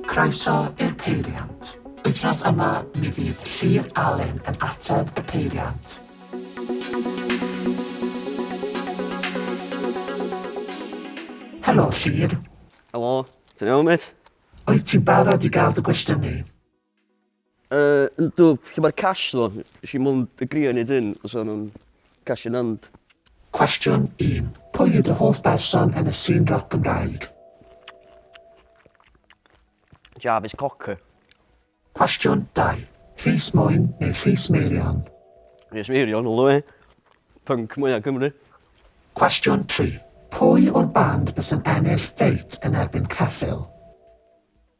Croeso i'r peiriant. Wythnos yma mi fydd Llyr Alun yn ateb y peiriant. Helo Llyr. Helo, ti'n iawn mêt? Wyt ti'n barod i gael dy gwestiynu? Yy yndw lle ma'r cash tho? Nesh i mond agrio i neud hyn os o'n nw'n cash in hand. Cwestiwn un, Pwy yw dy hoff berson yn y sîn rap Gymraeg? Jarvis Cocker. Cwestiwn dau, Rhys Mwyn neu Rhys Meirion? Rhys Meirion all the way. Punk mwya Cymru. Cwestiwn tri, Pwy o'r band bysa'n ennill ffeit yn erbyn Ceffyl?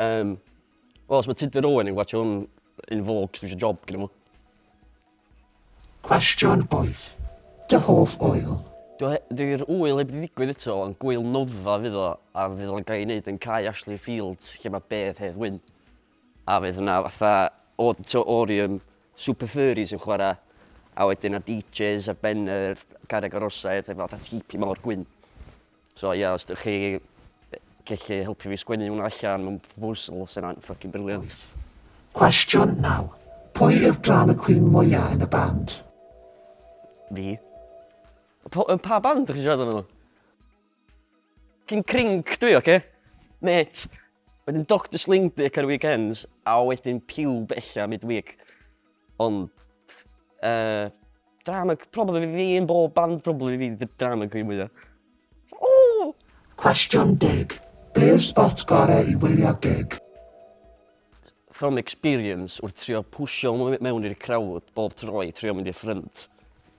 Um, Wel, os mae Tudur Owen yn gwachio hwn yn fog, dwi eisiau job gyda mwy. Cwestiwn 8. Dy hoff oil? Dyw'r wyl heb ddigwydd eto, ond gwyl nofa fydd o, a fydd o'n gael ei wneud yn cae Ashley Fields, lle mae bedd hedd wyn. A fydd yna fatha auditorium super furries yn chwarae, a wedyn a DJs ar ben yr carreg arosau, efo fatha tipi mawr gwyn. So ie, os dych chi gellu helpu fi sgwennu hwnna allan mewn proposal, sy'n hwnna'n ffocin briliant. Cwestiwn naw. Pwy yw'r drama queen mwya yn y band? Fi. Pa, yn pa band ydych chi'n siarad amdano? Cyn crinc dwi, oce? Met. Wedyn Doctor Sling Dick ar weekends, a wedyn Pube ella midweek. Ond uh, drama, probably fi yn bob band, probably fi the drama queen mwya. Oh! Cwestiwn dig. Be yw'r spot gore i wylio gig? From experience, wrth trio pwysio mewn i'r crowd bob tro i trio mynd i'r ffrynt.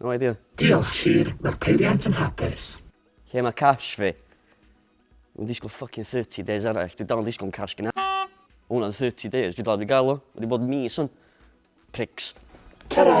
No idea. Diolch Llŷr, mae'r peiriant yn hapus. Lle mae cash fi? Dwi'n disgwyl fucking 30 days arall, dwi dal yn disgwyl am cash gynna. Mae hwnna'n 30 days, dwi dal wedi gael o. Mae wedi bod mis hwn. Pricks. Ta-ra!